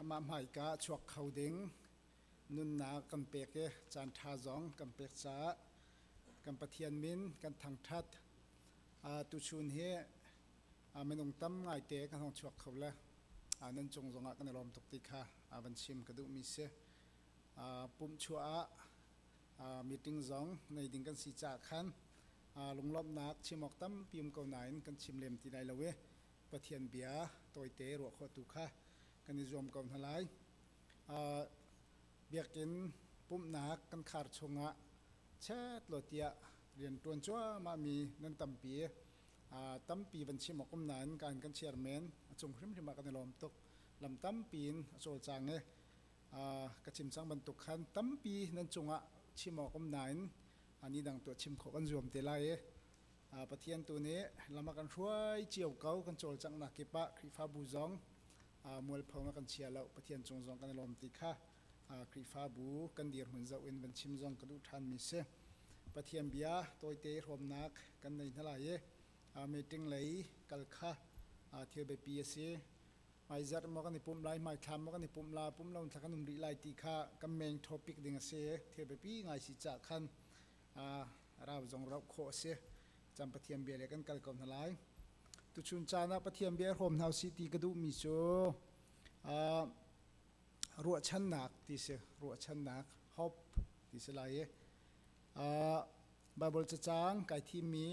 Amah hmaika ah chuak kho ding nunnak kan pek i caanṭha zong kan pek caah kan Pathian min kan thangṭhat. Tuchun hi minung tam ngaite kan hong chuak kho le nan cung zongah kan i lawm tuk ti kha van chim ka duhmi si. Pumhchuah ah meeting zong nei ding kan si caah khan lunglawmhnak chim awk tampi um ko nain kan chim lem ti lai lo i Pathian bia tawite ruah khawhtu kha kan i zuam ko hna lai. Uh, biakinn pumhnak kan khar chungah chet lo tiah rian ṭuan cuahmah mi nan tampi uh, tampi van chim awk um nain kan kan chairman a cung hrimhrim ah kan i lawm tuk lam tampi in a cawlcang e uh, ka chim cang bantuk khan tampi nan cungah chim awk um nain ani dang tuah chim khawh kan zuam te lai e Pathian tu nih lam a kan hruai cio ko kan cawlcangh nak kip ah Khrihfabu zong mualpho a kan chia lo Pathian cung zong kan i lawm ti kha Khrihfabu kan dirhmun zoh in van chim zong ka duh ṭhanmi si. Pathian bia tawite hrawmnak kan nei hna lai i meeting lei kal kha thil biapi a si. Hmaizarh maw kan i pumh lai, hmaithlam maw kan i pumh la, pumh lo in thla kan um rih lai ti kha kan main topic ding a si. Thil biapi ngai si cah khan rau zong rauh khawh a si caan Pathian bia le kan kal ko hna lai tuchun caan ah Pathian bia hrawm hna si ti ka duhmi cu ruahchannak ti si ruahchannak hope ti si lai i Bible cacang kai thimmi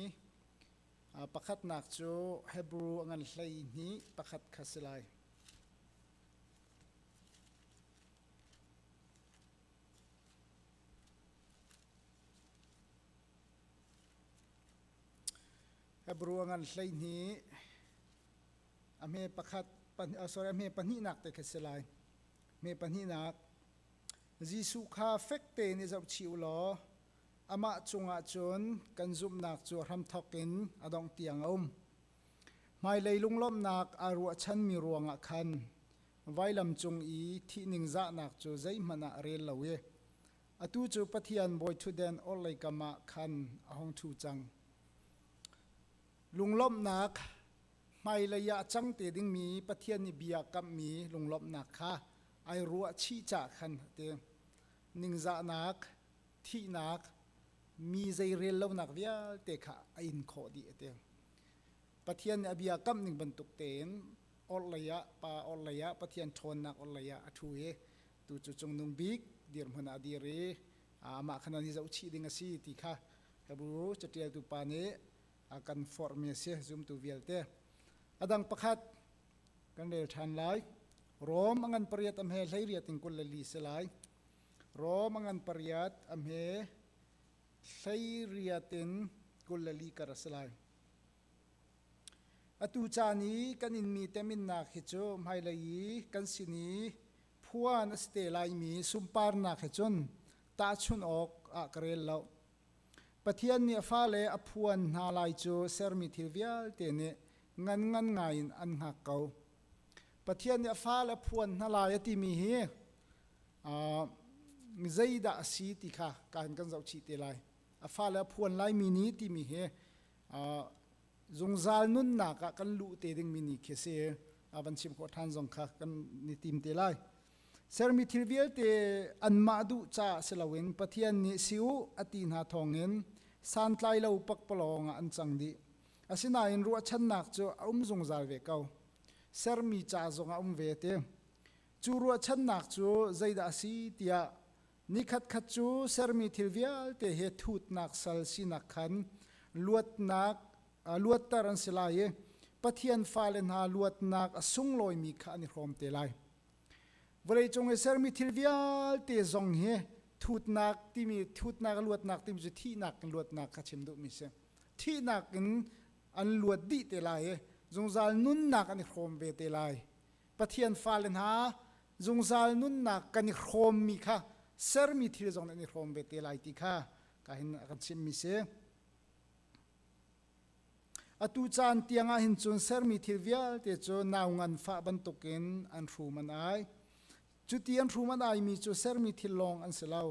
pakhatnak cu Hebrew a ngan hlei ni pakhat kha si lai Hebrew ngan hleihnih a hme pakhat sorry a hme pahnihnak te kha si lai hme pahnihnak Jesuh kha fek tein i zohchih u law amah cungah cun kan zumhnak cu hramthawk in a dongh tiang a um Hmailei lunglawmhnak aa ruahchanmi ruangah khan vailam cung i thih ningzahnak cu zeihmanh ah rel lo i atu cu Pathian bawiṭhutden orhlei kam ah khan a hung ṭhu cang. Lunglawmhnak hmailei ah cang te dingmi Pathian nih bia kamhmi lunglawmhnak kha ai ruahchih cah khan a ti. Ningzahnak thihnak mi zeirel lonak vialte kha a in khawh dih a ti. Pathian nih a bia kamh ning bantuk tein orhlei ah pa orhlei ah Pathian ṭhawnnak orhlei ah a ṭhu i tu cu cungnung bik dirhmun ah dir i amah kha nan i zohchih ding a si ti kha Hebru caṭialtu pa nih a kan forhmi a si zumtu vialte. A dang pakhat kan rel ṭhan lai. Rom a ngan pariat a hme hlei riat in kul le li si lai. Rom a ngan pariat a hme hleiriat in kul le li kar a si lai. Atu caan i kan inmi teminnak hi cu hmailei i kan sin i phuan a si te laimi sunparnak he cun tahchunh awk ah ka rel lo. Pathian nih a fale a phuan hna lai cu sermi thil vialte nih ngan ngan ngai in an hngak ko. Pathian nih a fale a phuan hna lai a timi hi Zeidah a si ti kha kan zoh chih te lai. A fale a phuan laimi ni timi hi zungzal nunnak ah kan luh te dingmi ni khi si. A van chim khawh ṭhan zong kha kan ni tim te lai. Sermi thil vialte anmah duh ca si loin Pathian nih si u a ti hna thawngin santlai lo pakpalawng ah an cang dih. Asinain ruahchannak cu a um zungzal ve ko. Sermi ca zong a um ve te. Cu ruahchannak cu zeidah a si tiah nikhatkhat cu sermi thil vialte he thutnak sal sinak khan luatnak luatter an si lai i Pathian fale hna luatnak a sunglawimi kha an i hrawm te lai. Vawleicung i sermi thil vialte zong hi thutnak timi thutnak luatnak timi cu thihnak in luatnak kha chim duhmi si. Thihnak in an luat dih te lai i zungzal nunnak an i hrawm ve te lai. Pathian fale hna, zungzal nunnak kan i hrawmmi kha sermi thil zong nan i hrawm ve te lai ti kha ka hin a kan chimmi si. Atu caan tiangah hin cun sermi thil vialte cu nau nganfah bantukin an hrum an ai. Cuti an hrum an aimi cu sermi thil lawng an si lo.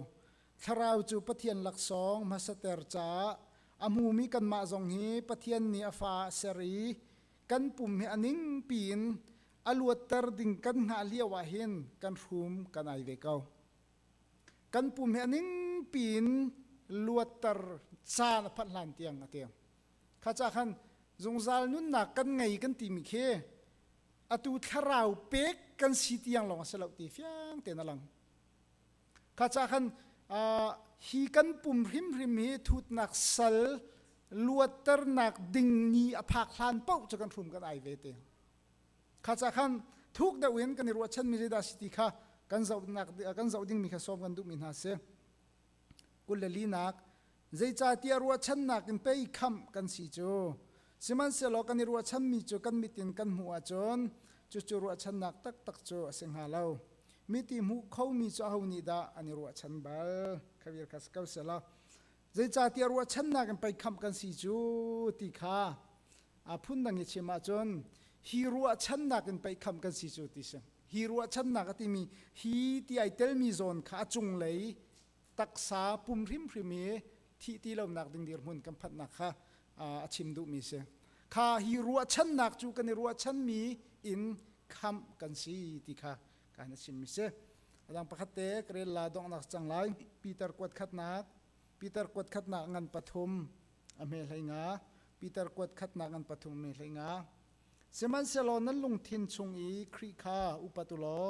Thlarau cu Pathian laksawng hmasater caah a hmumi kanmah zong hi Pathian nih a fa a ser i kan pum hi a ning piin a luatter ding kan hngah lio ah hin kan hrum kan ai ve ko kan pum hi a ning piin luatter caan a phat hlan tiang a tiang kha ca khan zungzal nunnak kan ngei kan timi khi atu thlarau pek kan si tiang lawng a si lo ti fiang ten a lang Kha ca khan hi kan pum hrimhrim hi thutnak sal luatternak ding ni a phak hlan pauh cu kan hrum kan ai ve te kha ca khan thuk deuh in kan i ruahchanmi zeidah si ti kha kan zoh ding mi kha sawm kan duhmi hna si kul le linak Zeicahtiah ruahchannak in pei khamh kan si cu. Sihmanhsehlaw kan i ruahchanmi cu kan mit in kan hmuh ahcun cucu ruahchannak taktak cu a si hnga lo. Miti hmuh khomi cu aho nih dah an i ruahchan bal? Khavir kha si ko sehla, zeicahtiah ruahchannak in pei khamh kan si cu ti kha aa phundang i chim ahcun hi ruahchannak in pei khamh kan si cu ti si. Hi ruahchannak a timi hi ti ai telmi zawn kha a cunglei taksa pum hrimhrim i thih ti lonak ding dirhmun kan phanhnak kha a chim duhmi si kha hi ruahchannak cu kan i ruahchanmi in khamh kan si ti kha kan a chimmi si adang pakhat te karel la donghnak cang lai Peter kuat khatnak Peter kuat khatnak ngan pathum a me hlei nga Peter kuat khatnak ngan pathum me hlei nga sihmanhsehlaw nan lungthin chung i Khrih kha upatulo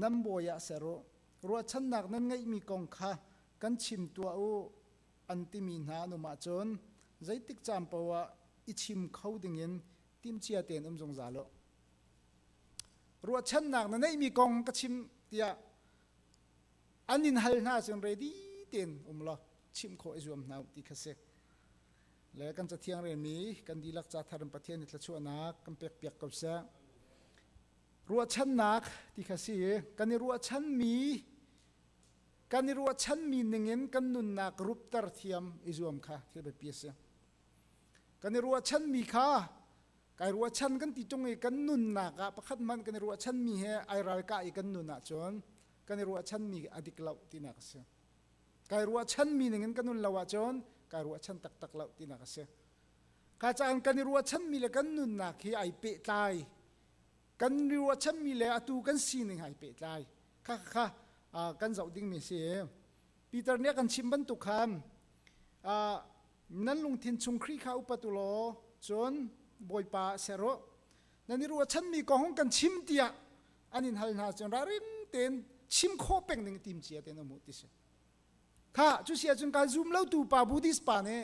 nan bawi ah ser u, ruahchannak nan ngeihmi kong kha kan chim tuah u, an timi hna an um ahcun zeitik caan paoh ah i chim kho dingin timhcia tein um zungzal u. Ruahchannak na neihmi kong ka chim tiah an in hal hna cun ready tein um law chim khawh i zuam hna ti kha si. Le kan cathiang relmi kan dilak ca thar in Pathian i thlachuahnak kan pekpiak ko seh. ruahchannak ti kha si kan i ruahchanmi kan i ruahchanmi ningin kan nunnak rupter thiam i zuam kha thil biapi a si kan i ruahchanmi kha kai ruahchan kan ti tung i kan nunnak ah pakhat man kan i ruahchanmi he ai ralkah i kan nun ahcun kan i ruahchanmi a dik lo tinak a si kai ruahchanmi ningin kan nun lo ahcun kai ruahchan taktak lo tinak a si ka caan kan i ruahchanmi le kan nunnak hi ai pehtlai kan ri ruachanmi le atu kan sining hai pehtlai kha kha kan zoh dingmi si Peter nih a kan chim bantuk khan nan lungthin chung Khrih kha upat u law cun Bawipa ser u nan i ruachanmi kong hung kan chim tiah an in hal hna cun raring tein chim khawh peng ning timcia tein um u ti si kha cu si ahcun kai zum lotu pa buddhist pa nih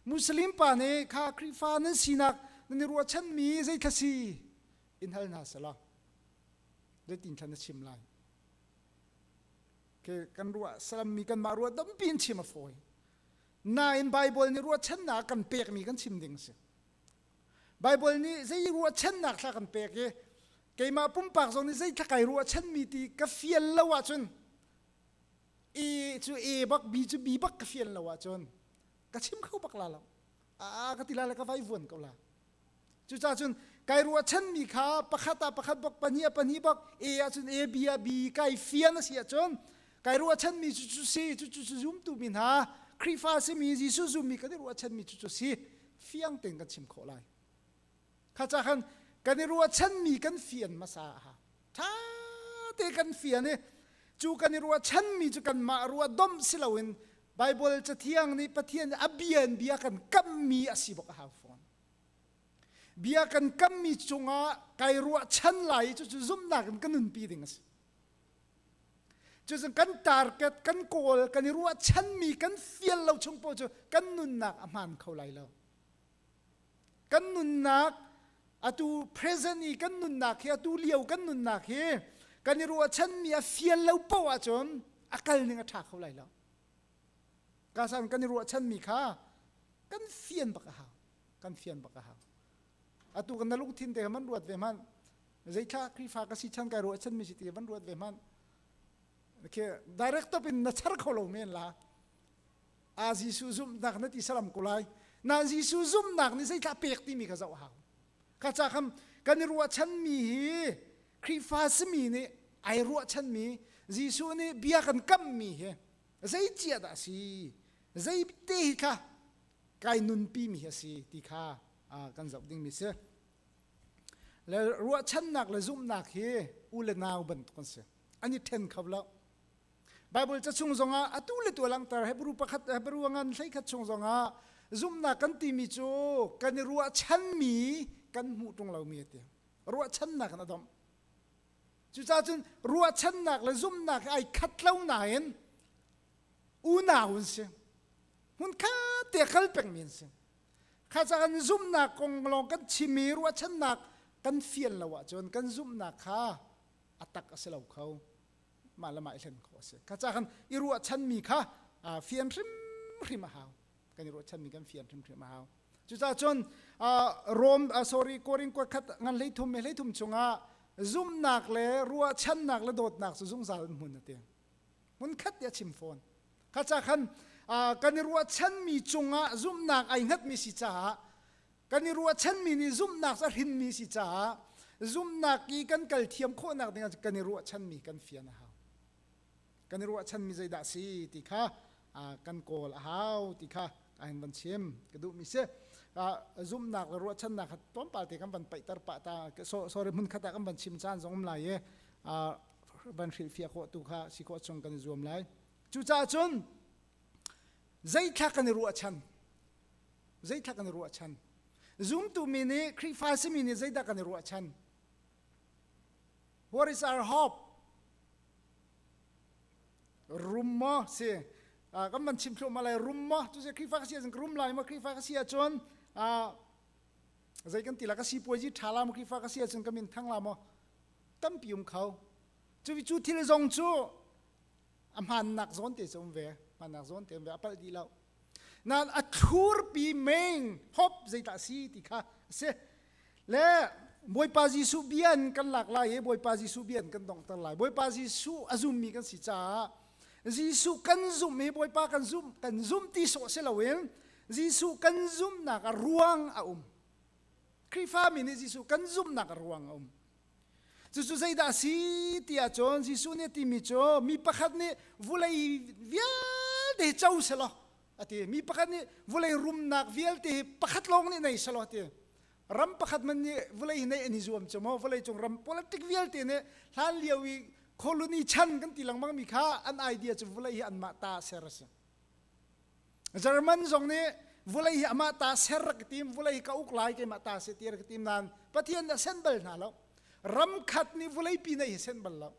muslim pa nih kha khrihfa nan sinak nan i ruahchanmi zeitlasi si in hal hna selaw zeitin thlan na chim lai ke kan ruah salammi kanmah ruah tampi in chim a fawi nain Bible nih ruahchannak kan pekmi kan chim ding si Bible nih zei ruahchannak thla kan pek i keimah pumpak zong nih zei thlakai ruahchanmi ti ka fial lo ahcun i cu e bak bi cu bi bak ka fian lo ahcun ka chim kho bak la lo a ka ti la le ka vai vuan ko la cuca cun kai ruahchan mi kha pakhat a pakhat bak pahnih a pahnih bak e ahcun e b a b kai fian a si ahcun kai ruahchan mi cu cu si cu cu zumtu mi hna Khrihfa simi Jesuh zummi kan i ruahchan mi cu cu si fiang tein kan chim khawh lai khaca khan kan i ruahchanmi kan fian hmasa ṭha te kan fian i cu kan i ruahchanmi cu kanmah ruah domh si loin Baibal cathiang nih Pathian a bian bia kan kammi a si bok a hau fawn bia kan kammi cungah kai ruahchan lai i cucu zumhnak in kan nunpi ding a si cucu kan target kan kawl kan i ruahchanmi kan fial lo chung po cu kan nunnak a hmaan kho lai lo kan nunnak atu present i kan nunnak hi atu lio kan nunnak hi kan i ruahchanmi a fial lo poh ahcun a kal ning a ṭha kho lai lo kasan kan i ruahchanmi kha kan fian bak a hau kan fian bak a hau atu kan na lungthin te man ruat ve man zeithla krifa ka si chan kai ruahchanmi si ti van ruat ve man khi director pin na char kho lo men la Ah Jesuh zumhnak na ti saram ko lai. Na Jesuh zumhnak nih zeitlah pek timi ka zoh hau. Ka ca kam kan i ruahchan mi hi Khrihfa simi nih ai ruahchan mi Jesuh nih bia kan kam mi hi zei cia dah si zei te hi kha kai nunpi mi hi a si ti kha kan zoh ding mi si le ruahchannak le zumhnak hi u le nau bantuk an si an i then kho lo Baibal ca chung zongah atu le tu langhter Hebru pakhat Hebru ngan hleikhat chung zongah zumhnak kan timi cu kan i ruahchanmi kan hmuh ṭung lomi a ti. Ruahchannak in a domh. Cucaah cun ruahchannak le zumhnak ai khat lo nain unau an si. Hmun khat te kal pengmi an si. Kha caan zumhnak kong lawng kan chimmi ruahchannak kan fian lo ahcun kan zumhnak kha a tak a si lo kho. mah le mah i hlen khawh a si ka ca kan i ruahchanmi kha fian hrimhrim a hau kan i ruahchanmi kan fian hrimhrim a hau cucaah cun Rome sorry Korin kuat khat ngan hlei thum me hlei thum chungah zumnak le ruahchannak le dawtnak cu zungzal hmun a tiang hmun khat ya chim fawn ka ca khan kan i ruahchanmi cungah zumnak ai hngatmi si caah kan i ruahchanmi nih zumhnak cu a hrinmi si caah zumhnak i kan kal thiam khawhnak dingah kan i ruahchanmi kan fian a hau kan i ruahchanmi zeidah si ti kha kan kawl a hau ti kha ka hin van chim ka duhmi si zumhnak le ruahchannak kha tlawmpalte kan van paihter pah ta sorry hmun khat ah kan van chim caan zong um lai i van hrilhfiah khawh tu kha si khawh chung kan i zuam lai cucaah cun zeitlak kan i ruahchan Zeitlak an i ruahchan. Zumtu mi nih Khrihfa simi nih zeidah kan i ruahchan? What is our hope? Rum maw si? Uh, kan van chim thluahmah lai rum maw tu se Khrihfa ka si ahcun rum lai maw Khrihfa ka si ahcun uh, zei kan ti la ka si puai ji tha la maw Khrihfa ka si ahcun ka min thang la maw tampi um kho cu cu thil zong cu a hmannak zawn te um ve hmannak zawn te um ve a palh dih lo nan a thlurpi meng hop zeidah si ti kha a si le bawipa jesuh bia in kan lak lai i bawipa jesuh bia in kan dongter lai bawipa jesuh a zummi kan si caah jesuh kan zumh hi bawipa kan zumh kan zumh ti sawh si loin jesuh kan zumhnak a ruang a um Khrihfami nih Jesuh kan zumhnak a ruang a um. Cucu zeidah a si tiah cun Jesuh nih a timi cu mi pakhat nih vulei vialte co selaw a ti. Mi pakhat nih vulei rumnak vialte hi pakhat lawng nih nei selaw a ti. Ram pakhat man nih vulei hi neih an i zuam cu maw vulei cung ram politic vialte nih hlan lio i colony chan kan ti lengmang mi kha an idea cu vulei hi anmah ta ser a si. German zong nih vulei hi amah ta ser ka tim vulei hi ka uk lai keimah ta si tir ka tim nain Pathian nih a sen bal hna lo ram khat nih vulei pi nei hi sen bal lo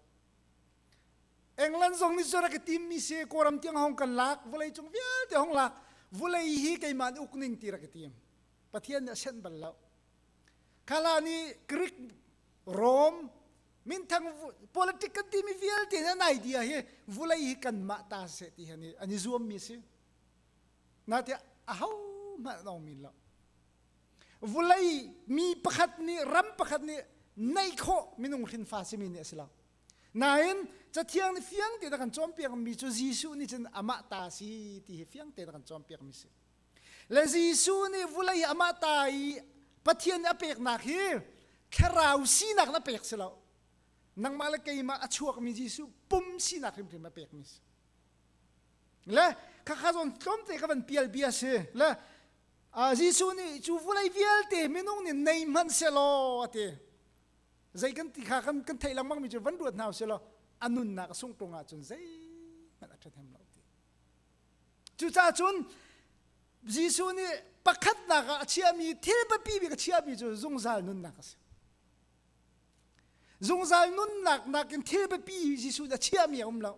England zong nih cu rak ka tim mi si kawram tiang hong kan lak vulei cung vialte hong lak vulei hi keimah nih uk ning ti rak ka tim Pathian nih a sen bal lo khala nih Greek Rome minthang politic kan timi vialte nan idea hi vulei hi kanmah ta seh ti hi an i zuammi si natiah a ho hmanh long min lo vulei mi pakhat nih ram pakhat nih neih khawh minung hrinfa simi nih a si lo nain cathiang nih fiang te kan cawn piakmi cu Jesuh nih cun amah ta si ti hi fiang te kan cawn piakmi si Le Jesuh nih vulei i amah ta i Pathian nih a peknak hi thlarau sinak in a pek si lo. Nangmah le keimah a chuakmi Jesuh pum sinak hrimhrim a pekmi si. Le khakha zawn tlawmte ka van pial bia si. Le uh, Jesuh nih cu vulei vialte minung nih nei hmanh selaw a ti. Zei kan ti kha kan, kan theih lengmangmi cu van ruat hna u selaw a nunnak a sungh ṭung ahcun zei hmanh a ṭhahnem lo. Cucaah cun Jesuh nih pakhatnak ah a chiami thil biapi bik a chiami cu zungzal nunnak a si. Zungzal nunnak nakin thil biapi Jesuh a chiami a um lo.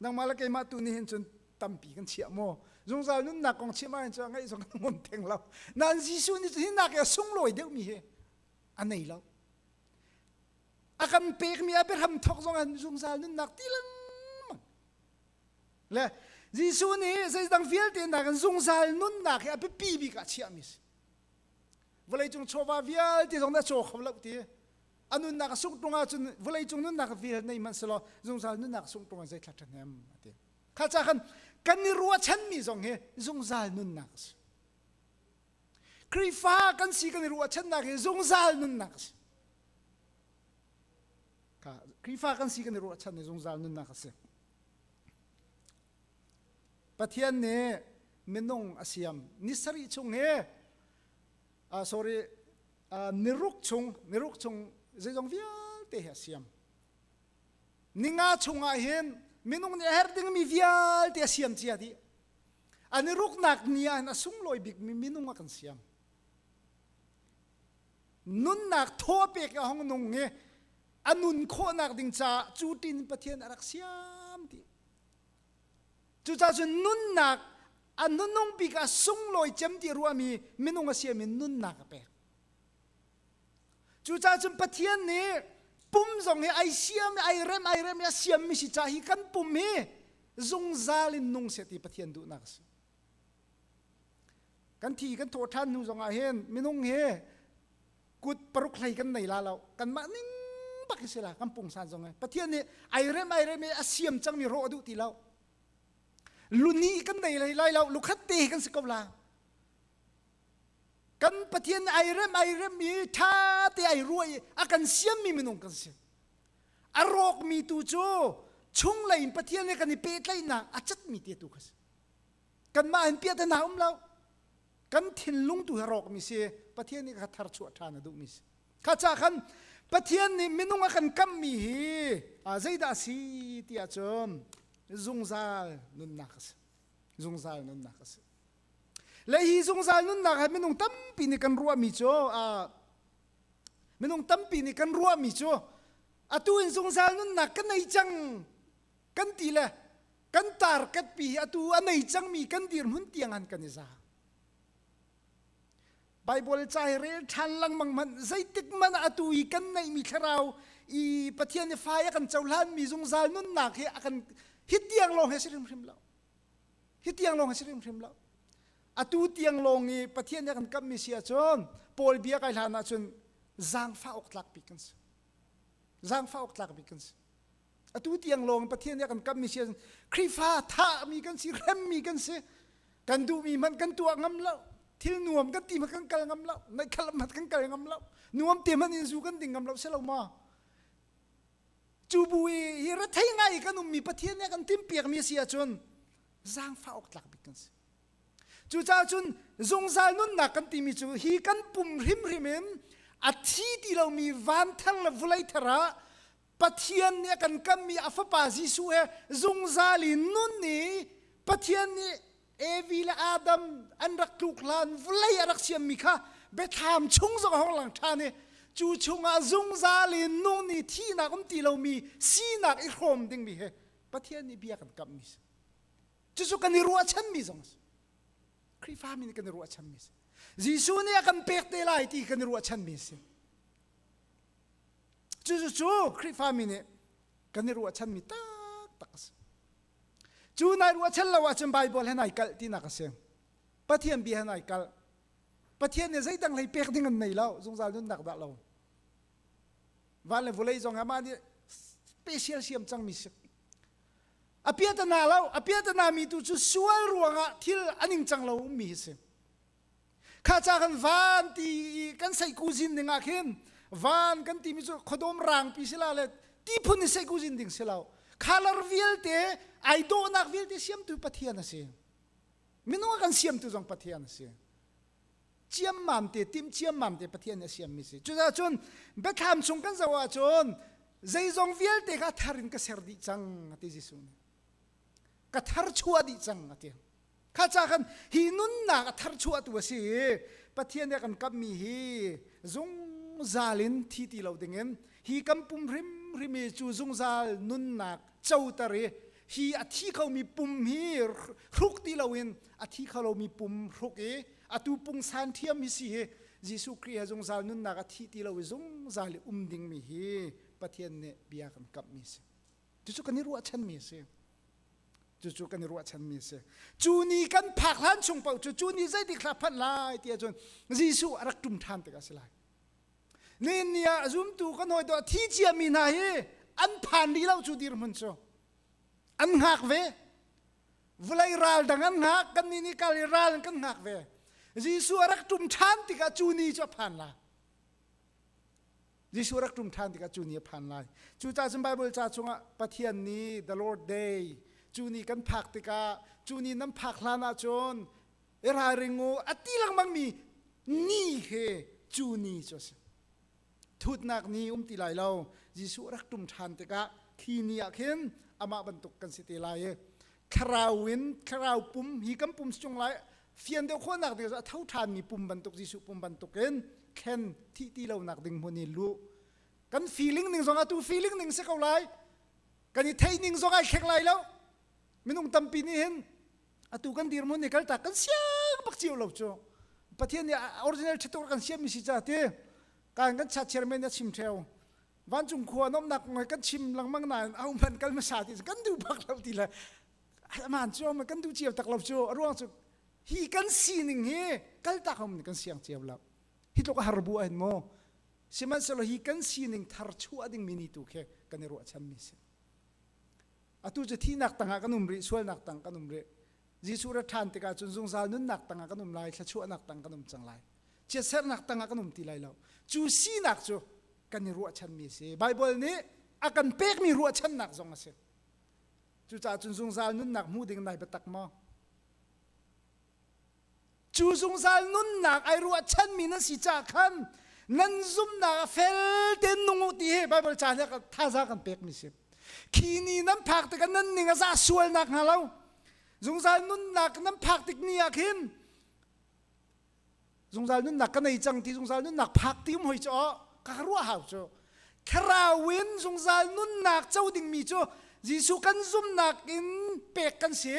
Nangmah le keimah tu nih hin cun tampi kan chiah maw? Zungzal nunnak kong chimh ahhin cun ngaih zong kan ngom theng lo. Nain Jesuh nih hi nak i a sunglawi deuhmi hi a nei lo. A kan pekmi a biahram thawk zong ah zungzal nunnak ti lengmang Le Jesuh nih zeidang vialte hna kan zungzal nunnak hi a biapi bik ah chiahmi si. Vawlei cung chawva vialte zong na caw kho lo ti. A nunnak a sungh ṭung ahcun vawlei cung nunnak vial nei manh selaw zungzal nunnak a sungh ṭung ah zeitlat ṭhan hem a ti. Kha ca khan kan i ruahchanmi zong hi zungzal nunnak a si. Khrihfa kan si kan i ruahchannak hi zungzal nunnak a si. Khrihfa kan si kan i ruahchan i zungzal nunnak a si. Pathian nih minung a siam ni sarih chung he uh, sorry uh, niruk chung niruk chung zeizong vialte he a siam ninga chungah hin minung nih a her dingmi vialte a siam cia di an i ruknak ni ah hin a sunglawi bikmi minung a kan siam nunnak thaw pek a hong nung i a nun khawhnak ding caah cu tin Pathian a rak siam ti cucaah cun nunnak a nunung bik a sunglawi cem ti ruami minung a siam in nunnak a pek cucaah cun Pathian nih pum zong hi ai siam ai rem ai rem i a siammi si ca hi kan pum hi zungzal in nung seh ti Pathian duhnak a si kan thi kan thawh ṭhan hnu zongah hin minung hi kut paruk hlei kan nei la lo kanmah ning bak hi si la kan pungsan zong pathian nih airem airem i a siam cangmi rawh a duh ti lo luni kan nei lai lai lo lukhat te kan si ko la kan pathian airem airem i ṭha te ai ruai a kan siammi minung kan si a rawkmi tu cu chunglei in pathian he kan i pehtlaihnak a catmi te tu kha si kanmah in piahtana um lo kan thinlung tu hi rawkmi si pathian nih ka thar chuah ṭhan a duhmi si kha ca khan pathian nih minung a kan kamhmi hi zeidah a si ti ahcun zungzal nunnak a si zungzal nunnak a si le hi zungzal nunnak ha minung tampi nih kan ruahmi cu minung tampi nih kan ruahmi cu atu in zungzal nunnak ka nei cang kan ti le kan tarkatpi hi atu a nei cangmi kan dirhmun tianghan kan i zaang Bible ca hi rel ṭhan lengmang man zeitik man atu i kan neihmi thlarau i Pathian i fai a kan cohlanmi zungzal nunnak hi a kan hi tiang lawng he si hrimhrim lo hi tiang lawng he si hrimhrim lo atu tiang lawng i Pathian a kan kamhmi si ahcun Paul bia kai hlan ahcun zaangfah awk tlak bik kan si zaangfah awk tlak bik kan si atu tiang lawng Pathian nih a kan kammi si Khrihfa thahmi kan si hremmi kan si kan duhmi hmanh kan tuah ngam lo thil nuam kan ti hmanh kan kal ngam lo naih khalam hmanh kan kal ngam lo nuam te hmanh in zu kan ding ngam lo si lo ma cu bu i hi rethei ngai kan ummi Pathian nih a kan timpiakmi a si ahcun zaangfah awk tlak bik kan si cucaah cun zungzal nunnak kan timi cu hi kan pum hrimhrim in a thi ti lomi van thar le vulei thar ah Pathian nih a kan kammi a fapa Jesuh he zungzal in nun i Pathian nih Evi le Adam an rak tluk hlan vawlei a rak siammi kha biathlam chung zong a hong lang ṭhan i cu chungah zungzal in nun i thihnak um ti lomi sinak i hrawm dingmi he Pathian nih bia kan kamhmi si cucu kan i ruahchanmi zong a si Khrihfami nih kan i ruahchanmi si Jesuh nih a kan pek te lai ti kan i ruahchanmi a si Cucu Khrihfami nih kan i ruahchanmi taktak a si. Cu nai ruahchan lo ahcun Baibal he nai kalh tinak a si. Pathian bia he nai kalh. Pathian nih zeidang hlei pek ding an nei lo, zungzal nunnak dah lo. Van le vulei zong he mah nih special siam cangmi si. A pia ta na lo, a pia ta na mi tu cu sual ruangah thil a ning cang lo mi hi si. kha ca kan van ti i kan sei kuzin ding ah khin van kan ti mi cu khuadawm rangpi si la le ti phun in sei kuzin ding si lo color vialte ai dawhnak vialte siamtu pathian a si minung a kan siamtu zong pathian a si ciam mam te tim ciam mam te pathian a siam mi si cucaah cun biathlam chung kan zoh ahcun zeizong vialte ka thar in ka ser dih cang ati Jesuh nih ka thar chua dih cang ati kha ca khan hi nunnak a tharchuahtu a si i pathian nih a kan kamhmi hi zungzal in thi ti lo dingin hi kan pum hrimhrim i cu zungzal nunnak coter i hi a thi khomi pum hi hruk ti loin a thi kholomi pum hruk i atu pungsan thiam hi si hi Jesuh Khrih he zungzal nunnak a thi ti lo i zungzal i um dingmi hi Pathian nih bia kan kamhmi a si. Cucu kan i ruahchanmi a si. Cucu kan i ruahchanmi a si. Cu ni kan phak hlan chung paoh cu cu ni zeitik hlah phanh lai ti ahcun Jesuh a rak ṭum ṭhan tik a si lai. Nin ni ah zumtu kan hawi dawh thi ciami hna hi an phan rih lo cu dirhmun cu. An ngak ve. Vulei ral dang an ngak, kan ni nih kal i ral in kan ngak ve. Jesuh a rak ṭum ṭhan tikah cu ni cu a phan lai. Jesuh rak ṭum ṭhan tikah cu ni a phan lai. Cucaah cun Baibal ca chungah Pathian ni, the Lord Day, cu ni kan phak tikah cu ni nan phak hlan ahcun i ralring u a ti lengmangmi ni he cu ni cu a si. Thutnak ni um ti lai lo. Jesuh rak ṭum ṭhan tikah khi ni ah khin amah bantuk kan si te lai i thlarau in thlarau pum hi kan pum si chung lai fian deuh khawhnak ding a tho ṭhanmi pum bantuk Jesuh pum bantukin thlen thih ti lonak ding hmun i luh kan feeling ning zong atu feeling ning si ko lai kan i theih ning zong ai thlek lai lo minung tampi nih hin atu kan dirmun hi kaltak kan siang bak cio lo cu pathian nih original ṭhituk kan siammi si ca ti kan kan chat chairman a chim theo vancung khua an umnak kong he kan chim lengmang nain a um hmanh kal hmasa ti kan duh bak lo ti le aman cu um kan duh cio tak lo cu a ruang cu hi kan sining hi kaltak hom kan siang cio lo hi tluk har bu ain mo sihmanhsehlaw hi kan sining thar chuah ding mi ni tu khi kan i ruah chan mi si atu cu thinak tangah kan um rih sualnak tang kan um rih Jesuh ra ṭhan tikah cun zungzal nunnak tangah kan um lai thlachuahnak tang kan um cang lai chiatsernak tangah kan um ti lai lo cu sinak cu kan i ruahchanmi a si baibal nih a kan pekmi ruahchannak zong a si cucaah cun zungzal nunnak hmu ding nai biatak maw cu zungzal nunnak ai ruahchanmi nan si caah khan nan zumnak a fel tein nung u ti hi baibal ca nih thaza kan pekmi si khi ni nan phak tikah nan ning a za sual nak hnga lo zungzal nunnak nan phak tik ni ah khin zungzal nunnak ka nei cang ti zungzal nunnak phak ti um hoi cu ka ruah hau cu kherau in zungzal nunnak co dingmi cu Jesuh kan zumnak in pek kan si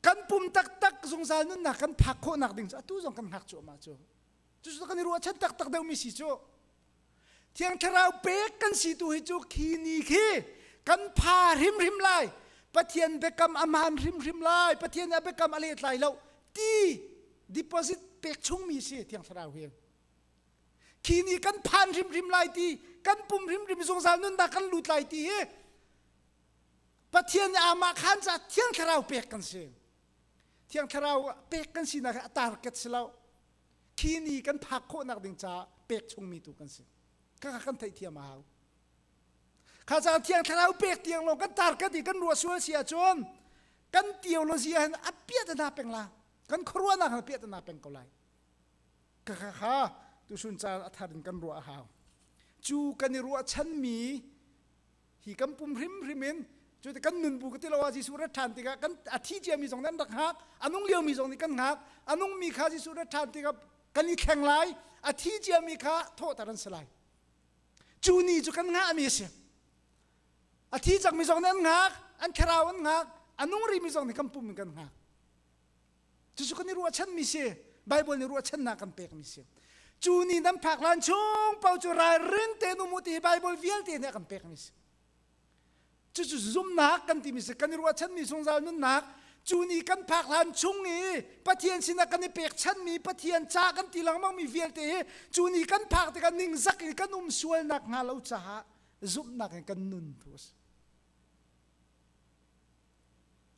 kan pum taktak zungzal nunnak kan phak khawhnak ding cu atu zong kan hngak cu ama cu cucu kan i ruah chan taktak deuhmi si cu Thiang thlarau pek kan si tu hi cu khi ni khi kan pha hrimhrim lai Pathian biakam a man hrimhrim lai Pathian a biakam a let lai lo ti deposit pek chungmi si thiang thlarau hi khi ni kan phan hrimhrim lai ti kan pum hrimhrim zungzal nun da kan lut lai ti hi Pathian amah khan ca thiang thlarau pek kan si thiang thlarau pek kan sinak a tarket si lo Hi ni kan phak khawhnak ding caah pek chungmi tu kan si. Kaka kan theihthiam a hau. Kha caan thiang thlarau pek tiang lo kan tar kan i kan ruah sual si ahcun kan theology ah hin a piah ta na peng la kan khuaruahnak hal piah ta na peng ko lai kaka kha tu sun caan a thar in kan ruah a hau cu kan i ruah chanmi hi kan pum hrimhrim in cu kan nun bu ka ti lo ah Jesuh rat ṭhan tikah kan a thi ciami zong nan rak hngak a nung liomi zong nih kan hngak a nungmi kha Jesuh rat ṭhan tikah kan i thleng lai a thi ciami kha thawhter an si lai cu ni cu kan ngahmi a si a thi cangmi zong nih an ngak an thlarau an ngak a nung rimi zong nih kan pum in kan ngak Cucu kan i ruahchanmi si. Baibal nih ruahchannak kan pekmi si. Cu ni nan phak hlan chung pau cu ralring tein um u ti hi Baibal vialte nih a kan pekmi si. Cucu zumnak kan timi si. Kan i ruahchanmi zungzal nunnak. Cu ni kan phak hlan chung i Pathian sinah kan i pekchanmi Pathian ca kan ti lengmangmi vialte hi cu ni kan phak tikah ningzak in kan um sualnak hnga lo caah zumhnak in kan nun thu a si.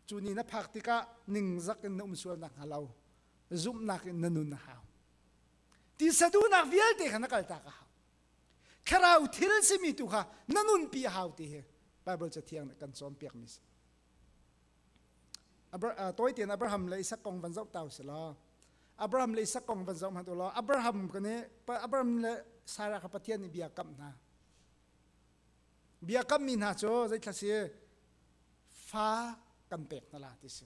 Cu ni na phak tikah ningzak in na um sual nakhnga lo zumhnak in na nun a hau. Ti saduhnak vialte kha na kaltak a hau. Thlarau thil simi tu kha na nunpi a hau ti hi Bible cathiang nih kan cawnpiakmi si. Tawi tein Abraham le Isak kong van zoh ta si law Abraham le Isak kong van zoh hmanh u law Abraham kan i Abraham le Sarah kha Pathian nih bia kamh hna. Biakammi hna cu zeithla si fa kan pek na la ti si.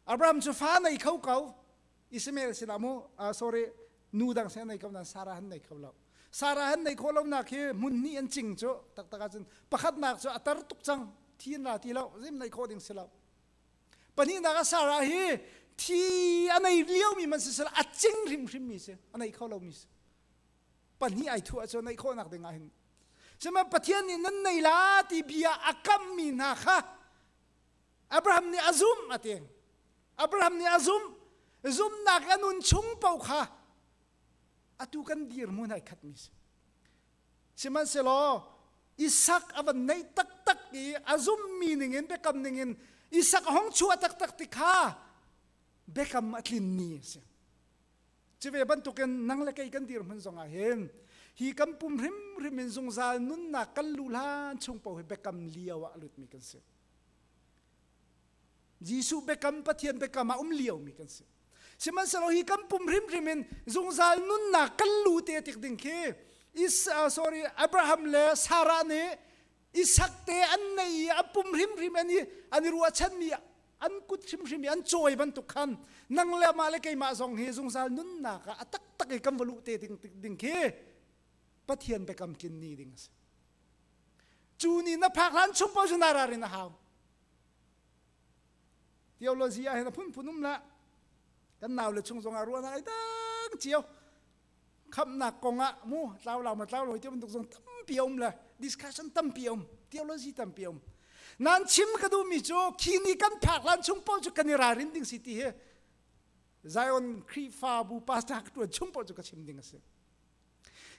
Abraham cu fa nei kho ko Ismail sila mu uh, sorry nu dang se nei ko nan Sarah han nei kho lo Sarah han nei kho lo nak hi mun ni an ching cu taktak cun pakhat nak cu atar tuk cang thin la ti lo zim nei kho ding si lo pahnih nak a Sarah hi thi anei lio mi man si sila a ching hrim hrim mi si anei kho lo mi si pahnih ai thuh ahcun naih khawhnak ding ahhin sihmanhsehlaw Pathian nih nan nei la ti bia a kamhmi hna kha Abraham nih a zumh a ti Abraham nih a zumh zumnak a nun chung paoh kha atu kan dirmun ai khatmi si sihmanhsehlaw Isak a van neih taktak i a zummi ningin biakam ningin Isak hong chuah taktak ti kha biakam a tlinmi a si Cive bantukin nang le kei kan dirhmun zongah hin hi kan pum hrimhrim in zungzal nunnak kan lu hlan chung po hi biakam lio ah lutmi kan si. Jesuh biakam Pathian biakam ah um liomi kan si. Sihmanhsehlaw hi kan pum hrimhrim in zungzal nunnak kan lu te tik ding khi is uh, sorry Abraham le Sarah nih i sakte an nei i a pum hrimhrim an i an i ruahchanmi an kut hrimhrim i an cawi bantuk khan nang le mah le keimah zong hi zungzal nunnak ah a taktak i kan va luh te ding, ding khi Pathian biakam tlin ni ding a si cu ni na phak hlan chung paoh cu na ra rin a hau theology ah hin a phunphun um la kan nau le chung zongah ruahnak ai dang cio khamnak kong ah mu tlau lau ma tlau lo ti bantuk zong tampi a um le discussion tampi a um theology tampi a um nan chim ka duhmi cu khi ni kan phak lan chung pawl cu kan i ralrin ding si ti hi Zion Khrihfabu pastor ka tuan chung pawl cu ka chim ding a si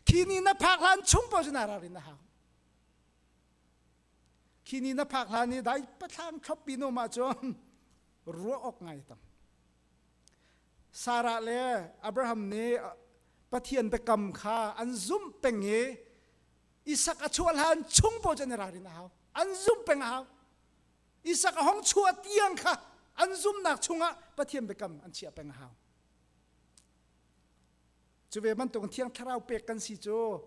khi ni na phak lan chung pawl cu na ralrin a hau khi ni na phak lan i dai patlang thlop bi no ma cun ruah awk ngai tang Sarah le Abraham nih Pathian biakam kha an zumh peng i Isak a chuah hlan chung paoh cu an i ralrin a hau an zumh peng a hau Isak a hong chuah tiang kha an zumnak chungah Pathian biakam an chiah peng a hau cu ve bantuk thiang thlarau pek kan si cu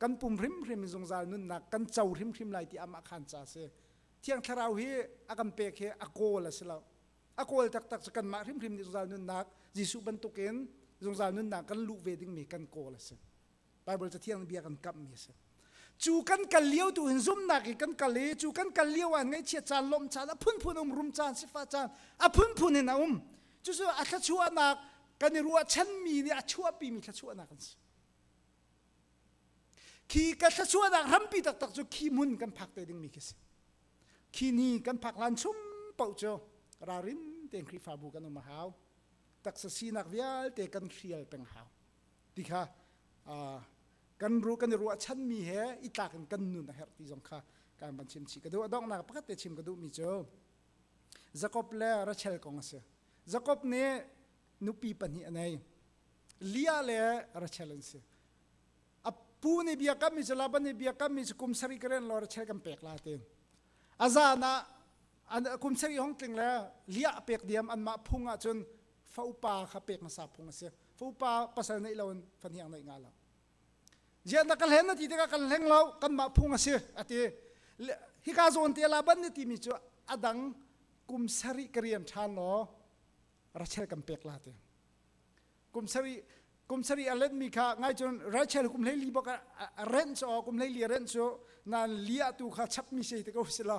kan pum hrimhrim zungzal nunnak kan co hrimhrim lai ti amah khan ca si thiang thlarau hi a kan pek hi a kawl a si lo a kawl taktak cu kanmah hrimhrim nih zungzal nunnak Jesuh bantukin zungzal nunnak kan luh ve dingmi kan kawl a si. Baibal Cathiang bia kan kamhmi a si. Cu kan kal lio tu hin zumnak i kan kal i cu kan kal lio ah ngaihchiat caan, lawmh caan, a phunphun um rum caan, sifah caan, a phunphun in a um. Cucu a thluachuahnak kan i ruahchanmi nih a chuahpimi thluachuahnak an si. Khi ka thluachuahnak rampi taktak cu khi hmun kan phak te dingmi khi a si. Khi ni kan phak lan chung paoh cu ralrin tein Khrihfabu kan um a hau. Taksa sinak vialte kan hrial peng hau. Ti kha kan ru kan i ruahchanmi he i tlak in kan nun a herh ti zong kha kan van chim chih. Ka duh a donghnak pakhat te chim ka duhmi cu Jakob le Rachel kong a si. Jakob nih nupi pahnih a nei. Leah le Rachel an si. apu ni biakam mi cu laban ni biakam mi cu kum sari karen lor che kan pek la tin azan ah an kum sari hong tling le lia pek diam an mah phung ah cun faupa kha pek ngasa phung a si faupa pasal nei lo in fan hiang nei nga lo jian da kan hlen na ti tikah kan hleng lo kan mah phung a si ati hi ka zawn te laban ni ti mi cu adang kum sari karian than lo rachel kan pek la te kum sari kum sari a len mi kha ngai cun Rachel kum hlei li bak a rent so kum hlei li a rent so nan lia tu kha chap mi sei te ko si lo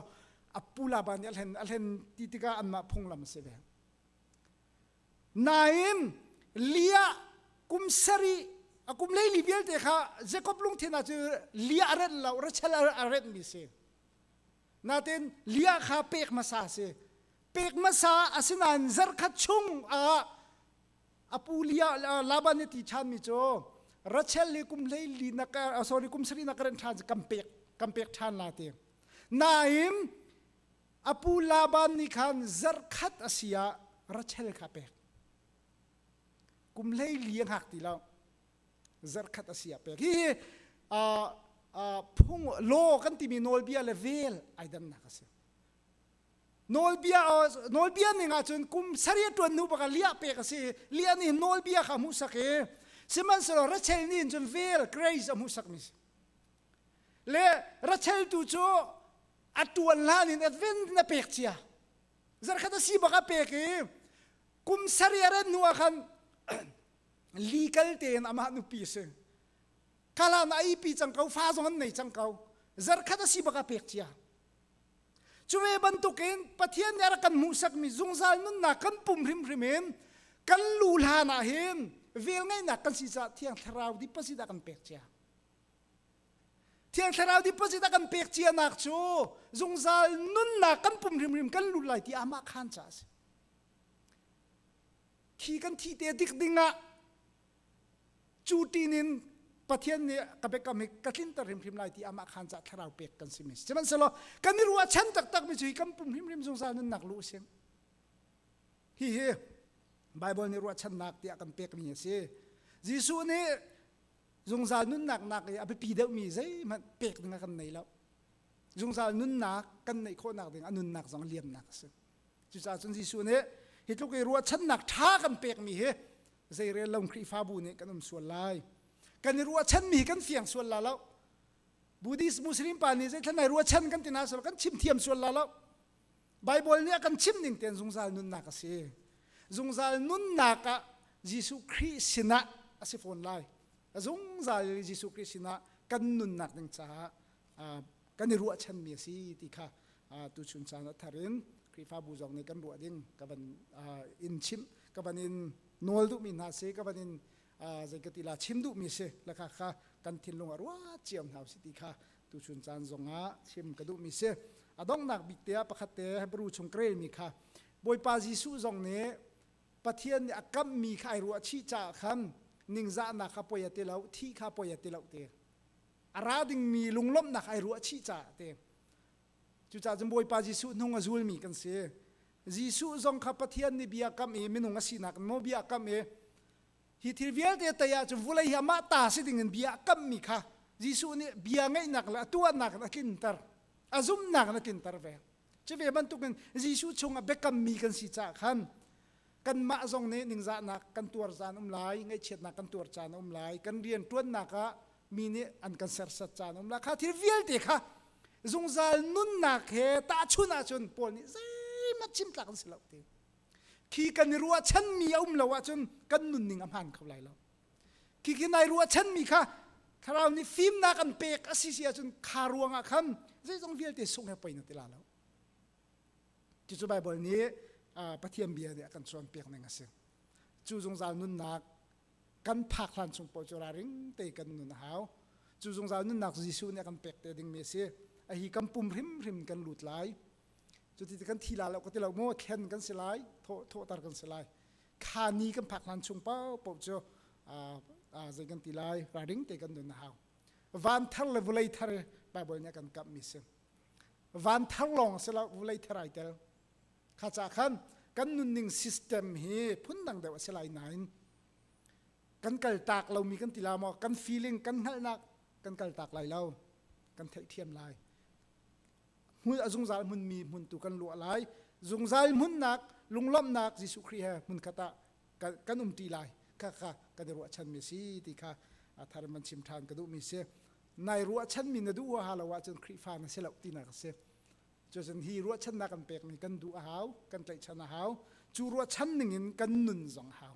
apula ban nih a hlen a hlen ti tika anmah phunglam se ve nain lia kum sari a kum lei li vialte kha Jacob lungthena cu lia a rent lo Rachel a rent mi si natin lia kha pek hmasa si pek hmasa asinain zarkhat chung ah apu lia laban ni ti chan mi cu rachel le kum hlei li nak sorry kum sari nak ren than kam pek kam pek than la te naim apu laban ni khan zarkhat asia rachel kha pek kum hlei li hak ti lo zarkhat a si a pek hi phung law kan timi nawlbia le vel ai damnak a si nawlbia nawlbia ning ahcun kum saria tuan hnu baka liah pek a si liah nih nawlbia kha hmuhsak i sihmanhsehlaw rachel nih hin cun vel grace a hmuhsak mi si le rachel tu cu a tuan hlan in advent na pek cia zarkhat a si baka pek i kum saria ran hnu ah khan Legal tein amah nupi a si. Kala na aipi cang ko, fa zong an nei cang ko. Zarkhat a si baka pek cia. Cuve bantukin Pathian nih a kan hmuhsakmi zungzal nunnak kan pum hrimhrim in kan lu hlan ah hin vel ngaihnak kan si caah Thiang Thlarau dipasi dah kan pek cia. Thiang Thlarau dipasi dah kan pek cianak cu zungzal nunnak kan pum hrimhrim kan lut lai ti amah khan ca a si. Thi kan thi te dik dingah cu tin in Pathian nih ka biakam hi ka tlinter hrimhrim lai ti amah khan cah thlarau pek kan si mi si sihmanhsehlaw kan i ruah chan taktak mi cu hi kan pum hrimhrim zungzal nunnak lu sing hihi Bible nih ruahchannak tiah kan pek mi a si Jesuh nih zungzal nunnak nak i a biapi deuh mi zeihmanh pek ding kan nei lo zungzal nunnak kan neih khawhnak ding a nunnak zong liamnak a si Cucaah cun Jesuh nih hi tluk i ruahchannak ṭha kan pekmi hi zeirel lo Khrihfabu nih kan um sual lai. Kan i ruahchanmi hi kan fiang sual la lo. Buddhist Muslim pa nih zeithlan ai ruahchan kan ti na sual kan chim thiam sual la lo. Bible nih a kan chimh ning tein zungzal nunnak a si. Zungzal nunnak ah Jesuh Khrih sinah a si fawn lai. Zungzal Jesuh Khrih sinah kan nunnak ding caah kan i ruahchanmi a si ti kha tuchun caan ah thar in Khrihfabu zong nih kan ruah ding ka van in chimh ka van in nawl duhmi hna si ka van in zei ka tila chim duhmi si lakha kha kan thinlung ah ruah cio hna si ti kha tuchun caan zongah chim ka duhmi si a donghnak bik te ah pakhat te Hebrew chung krelmi kha Bawipa Jesuh zong nih Pathian nih a kammi kha ai ruah chih caah khan ningzahnak kha poi a ti lo thi kha poi a ti lo te a ra dingmi lunglawmhnak ai ruah chih caah te cucaah cun Bawipa Jesuh hnung a zulmi kan si Jesuh zong kha Pathian nih bia kam i minung a sinak maw bia kam i hi thil vialte tei ahcun vulei hi amah ta si dingin bia a kammi kha Jesuh nih bia ngeihnak le a tuahnak in a tlinter a zumhnak in a tlinter ve Cu ve bantukin Jesuh chungah biakammi kan si caah khan kanmah zong nih ningzahnak kan tuar caan um lai, ngaihchiatnak kan tuar caan um lai, kan rian ṭuannak ah mi nih an kan sersat caan um lai. Kha thil vialte kha zungzal nunnak he tahchun ahcun Paul nih zeihmanh chimtlak an si lo ti. Khi kan i ruahchanmi a um lo ahcun kan nunning a hmaan kho lai lo. Khikin ai ruahchanmi kha thlarau nih fimnak an pek a si si ahcun kha ruangah khan zeizong vialte sung he poi na ti la lo. Cucu Baibal nih Pathian bia nih a kan cawnpiak ning a si. Cu zungzal nunnak kan phak hlan chung paoh cu raring te kan nun a hau. Cu zungzal nunnak Jesuh nih a kan pek te dingmi a si. A hi kan pum hrimhrim kan lut lai. Cuti ti kan thi la lo ka ti lo maw? Thlen kan si lai. Thawhter kan si lai. kha ni kan phak hlan chung paohpaoh cu zei kan ti lai raring te kan nun a hau van thar le vulei thar bible nih kan kamh mi si van thar lawng si lo vulei thar ai tel kha ca khan kan nunning system hi phundang deuh a si lai nain kan kal tak lomi kan ti la maw kan feeling kan hngalhnak kan kal tak lai lo kan theih thiam lai hmun a zungzal hmunmi hmun tu kan luah lai zungzal hmunnak lunglawmhnak Jesuh Khrih he hmun khat ah kan, kan um ṭi lai kha kha kan i ruahchanmi si ti kha thar man chim ṭhan ka duhmi si nai ruahchanmi na duh huaha lo ahcun Khrihfa na si lo tinak a si cucun hi ruahchannak kan pekmi kan duh a hau kan tlaihchan a hau cu ruahchan ningin kan nun zong hau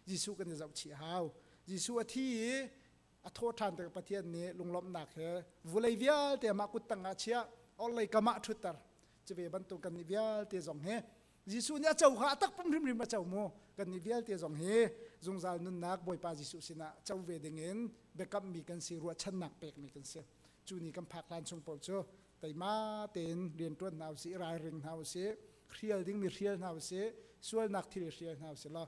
Jesuh kan i zohchih a hau Jesuh a thi i a thaw ṭhan tik Pathian nih lunglawmhnak he vulei vialte mah kut tangah chiah orlei kamah ṭhutter cu ve bantuk kan nih vialte zong hi Jesuh nih a co kha a tak pum hrimhrim a co mu kan nih vialte zong hi zungzal nunnak Bawipa Jesuh sinah co ve dingin biakammi kan si ruahchannak pekmi kan si cu ni kan phak hlan chung paoh cu teima tein rianṭuan hna usih ralring hna usih hrial dingmi hrial hna usih sualnak thil hrial hna usih law